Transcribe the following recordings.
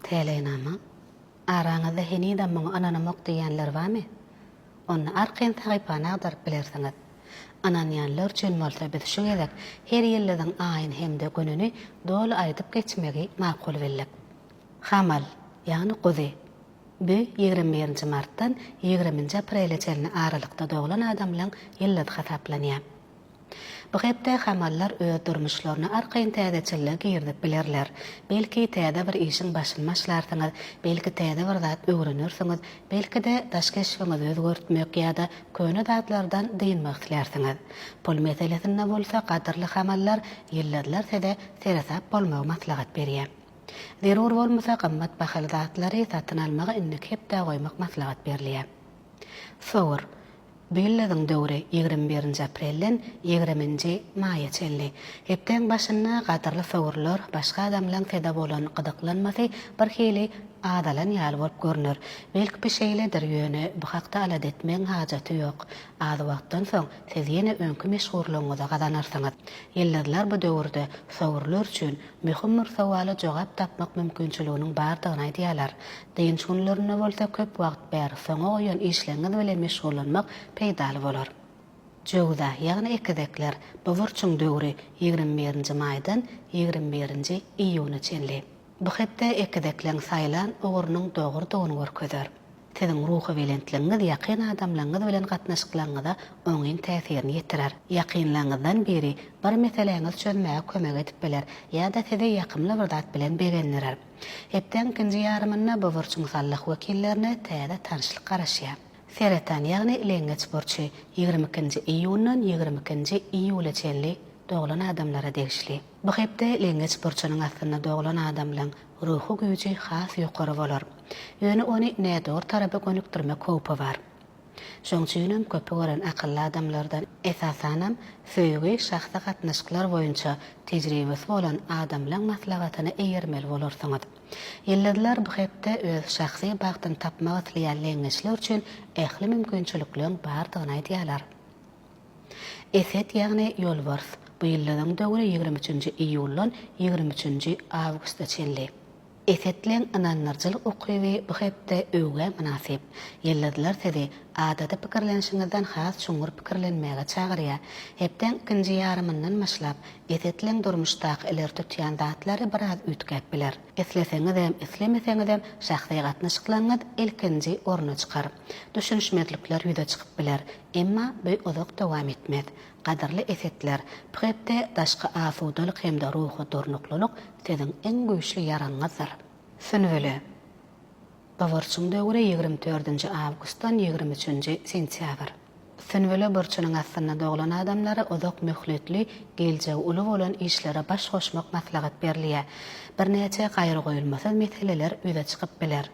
Täleýnama, Araňyzda henizem muňa ynanamok diýýänler barmy? Onda arkaýyn sahypany agdaryp bilersiňiz. Ynanýanlar üçin bolsa biz şu gezek her ýyldyzyň aýyny hem-de gününi doly aýdyp geçmegi makul bildik. Hamal, ýagny guzy. Bu ýigrimi birinji martdan ýigriminji aprele çenli aralykda doglan adamlaryň ýyldyzy hasaplanýar. Bu hepde hamallar öz durmuşlaryna arkaýyn täzeçillik girizip bilerler. Belki, täze bir işiň başyny başlarsyňyz, belki täze bir zat öwrenersiňiz, belki-de, daş keşbiňizi özgertmek ýa-da köne zatlardan dynmak islärsiňiz. Pul meselesinde bolsa gadyrly hamallar, ýyldyzlar size seresap bolmagy maslahat berýär. Zerur bolmasa gymmat bahaly zatlary satyn almagy indiki hepdä goýmak maslahat berilýär. Sogur. Billeziň döwri ýigrimi birinji aprelden ýigrimi nji maýa çenli. Hepdäň başynda gadyrly sowurlar, başga adamlaň peda bolan gyzyklanmasy bir hili azalan ýaly bolup görner. Belkpi şeýledir, ýöne bu hakda alada etmegiň hajaty ýok. Az wagtdan soň siz ýene öňki meşhurlygyňyzy gazanarsyňyz. Ýyldyzlar bu döwürde sowurlar üçin Möhüm bir sowala jogap tapmak mümkinçiliginiň bardygyny aýdýarlar. Dynç günlerinde bolsa köp wagt bäri soňa goýan işleňňiz bilen meşgullanmak peýdaly bolar. Jöwza, ýagny ekizekler, bu burçuň döwri ýigrimi birinji maýdan ýigrimi birinji iýuna çenli. Bu hepde ekizekleň saýlan ugrunyň dogrudygyny görkezer. Siziň ruhubelentligiňiz ýakyn adamlaryňyz bilen gatnaşyklaryňyza oňyn täsirini ýetirer. Ýakynlaryňyzdan biri bir meseläňizi çözmäge kömek edip biler ýa-da sizi ýakymly bir zat bilen begendirer. Hepdäň ikinji ýarymynda bu burç musallyh wekillerine täze tanyşlyk garaşýar. Seretan, ýagny leňňeç burçy, ýigrimi ikinji iýundan ýigrimi ikinji iýula çenli doglan adamlara degişli. Bu hepde leňňeç burçunyň aslynda doglan adamlaryň Ruhy güýji has ýokary bolar. Ýöne ony nädogry tarapa gönükdirmek howpy bar. Şoň üçinem köpi gören akylly adamlardan, esasanam, söýgi, şahsy gatnaşyklar boýunça tejribesi bolan adamlaň maslahatyna eýermeli bolarsyňyz. Ýyldyzlar bu hepde öz şahsy bagtyny tapmak isleýän leňňeçler üçin ähli mümkinçilikleň bardygyny aýdýarlar. Eset ýagny ýolbars, bu ýyllaryň döwri ýigrimi üçünji iýuldan ýigrimi üçünji awgusta çenli. Esetliň ynandyrjylyk ukyby bu hepde öwgä mynasyp. Ýyldyzlar sizi adaty pikirlenişiňizden has çuňňur pikirlenmäge çagyrýar. Hepdäň ikinji ýarymyndan başlap, Esetliň durmuşdaky ileri tutýan zatlary biraz üýtgäp biler. Isleseňizem, islemeseňizem şahsy gatnaşyklaryňyz ilkinji orna çykar. Düşünişmezlikler ýüze çykyp biler, emma bu uzak dowam etmez. Gadyrly esetler, bu hepde daşky asudalyk hem-de ruhy durnuklylyk siziň iň güýçli ýaragyňyzdyr. Sünbüle. Bu burçuň döwri ýigrimi dördünji awgustdan ýigrimi üçünji sentýabr. Sünbüle burçunyň astynda doglan adamlara uzak möhletli, geljegi uly bolan işlere baş goşmak maslahat berilýär. Birnäçe gaýragoýulmasyz meseleler ýüze çykyp biler.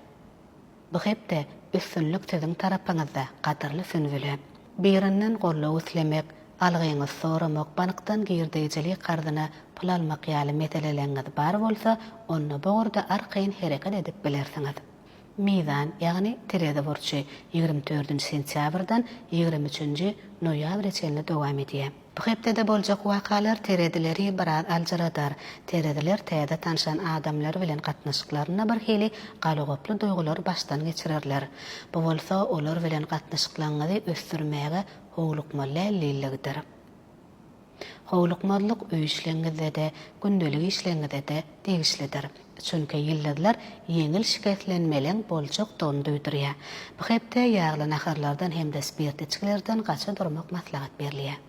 Bu hepde üstünlik siziň tarapyňyzda gadyrly Sünbüle. Birinden goldaw islemek, algyňyz soramak bankdan girdeýjilik karzyna pul almak ýaly meseleleňňiz bar bolsa onda bu ugurda arkaýyn hereket edip bilersiňiz. Mizan ýagny terezi burçy ýigrimi dördünji sentýabrdan ýigrimi üçünji noýabre çenli dowam edýär. Bu hepdede boljak wakalar teredileri biraz aljyradar. Terediler täze tanşan adamlary bilen gatnaşyklarynda birhili galagoply duýgulary başdan geçirerler. Bu bolsa olar bilen gatnaşyklaňyzy ösdürmäge howlukmalälliligdir. Howlukmazlyk öý işleňizde-de, gündelik işleňize-de degişlidir. Çünki ýyldyzlar ýeňil şikeslenmeleň boljakdygyny duýdurýar. Bu hepde ýagly naharlardan hem-de spirtli içgilerden gaça durmak maslahat berilýär.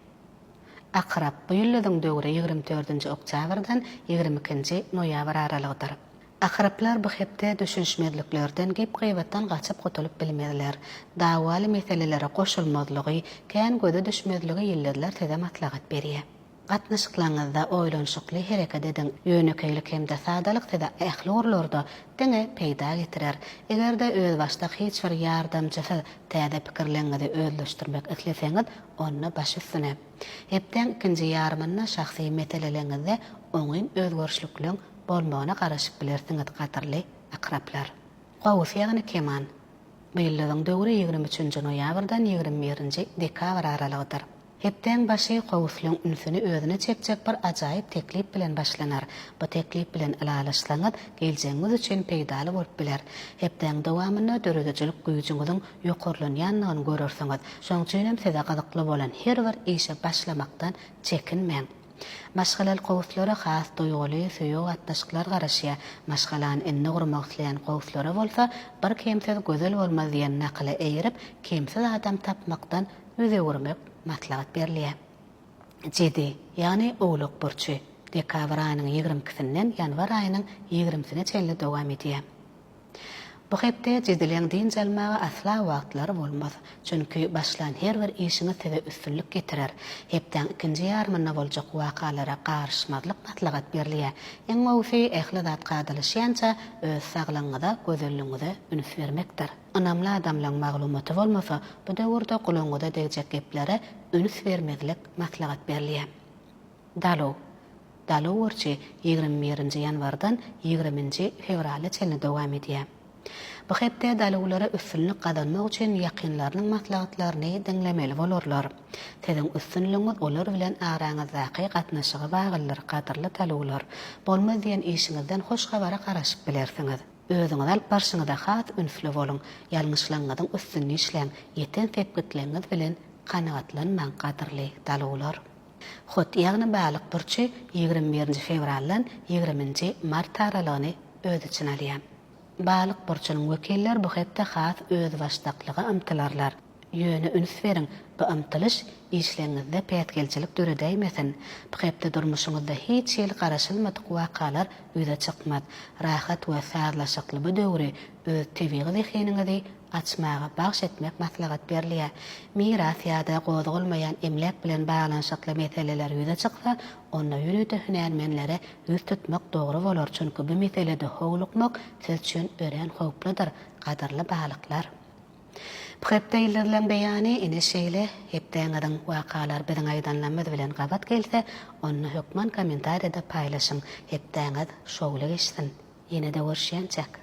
Akrap, bu ýyldyzyň döwri ýigrimi dördünji oktýabrdan ýigrimi ikinji noýabr aralygydyr. Akraplar bu hepde düşünişmezliklerden, gep-gybatdan gaçyp gutulyp bilmezler. Dawaly meselelere goşulmazlygy, kän göze düşmezligi ýyldyzlar size maslahat berýär. Gatnaşyklaryňyzda oýlanyşykly hereket ediň. Ýönekeýlik hem-de sadalyk size ähli ugurlarda diňe peýda getirer. Eger-de özbaşdak hiç bir ýardamçysyz täze pikirleriňizi özleşdirmek isleseňiz, onda baş üstüne. Hepdäň ikinji ýarymynda şahsy meseleleriňizde oňyn özgerişlikleriň bolmagyna garaşyp bilersiňiz, gadyrly Akraplar. Gowusy ýagny keman. Bu ýyldyzyň döwri ýigrimi üçünji noýabrdan ýigrimi birinji dekabr aralygydyr. Hepdäň başy Kowuslyň ünsüni özüne çekjek bir ajaýyp teklip bilen başlanar. Bu teklip bilen ylalaşsaňyz, geljegiňiz üçin peýdaly bolup biler. Hepdäň dowamynda döredijilik güýjüňiziň ýokarlanýandygyny görersiňiz. Şoň üçinem size gyzykly bolan her bir işe başlamakdan çekinmäň. Maşgalaly kowuslara has duýguly, söýügi gatnaşyklar garaşýar. Maşgalany indi gurmak isleýän kowuslara bolsa, Bir kemsiz gözel bolmaz diýen nakyla eýerip, kemsiz adam tapmakdan Ýüz öwürmek maslahat berilýär. Jedi, ýagny Owlak burçy, dekabr aýynyň ýigrimi ikisinden ýanwar aýynyň ýigrimisine çenli dowam edýär. Bu hepde Jedileň dynç almaga asla wagtlary bolmaz, çünki başlan her bir işiňiz size üstünlik getirer. Hepdäň ikinji ýarymynda boljak wakalara garyşmazlyk maslahat berilýär. Iň gowusy ähli zat kadalaşýança öz saglygyňyza, gözelligiňize üns bermekdir. Ynamly adamlaň maglumaty bolmasa bu döwürde gulagyňyza degjek geplere üns bermezlik maslahat berilýä. Daluw. Daluw urçy ýigrimi birinji ýanwardan ýigriminji fewrala çenli dowam edýä. Bu hepde daluwlara üstünlik gazanmak üçin ýakynlarynyň maslahatlaryny diňlemeli bolarlar. Siziň üstünligiňiz olar bilen araňyzdaky gatnaşyga bagyldyr gadyrly daluwlar. Bolmaz diýen işiňizden hoş habara garaşyp bilersiňiz. Özüňizi alyp barşyňyzda has ünsli boluň, ýalňyşlaňňyzyň üstünde işläň, ýeten sepgitleňňiz bilen kanagatlanmaň gadyrly daluwlar. Hut ýagny balyk burçy ýigrimi birinji fewraldan ýigrimi nji mart aralygyny öz içine alýar. Balyk burçunyň wekiller bu hepde has özbaşdaklyga ymtylarlar. Ýöne üns beriň, bu ymtylyş işleňňizde päsgelçilik döredäýmesin. Bu hepde durmuşyňyzda hiç hili garaşylmadyk wakalar ýüze çykmaz. Rahat we sazlaşykly bu döwri öz tebigy zehiniňizi açmaga bagş etmek maslahat berilýär. Miras ýa-da gozgalmaýan emläk bilen baglanyşykly meseleler ýüze çyksa, onda ýörite hünärmenlere ýüz tutmak dogry bolar, çünki bu meselede howlukmak siz üçin örän howpludyr, gadyrly balyklar. Bu hepde ýyldyzlaryň beýany ine şeýle, hepdäňiziň wakalary biziň aýdanlarymyz bilen gabat gelse, onda hökman kommentariýada paýlaşyň, hepdäňiz şowly geçsin! Ýene-de görüşýänçäk!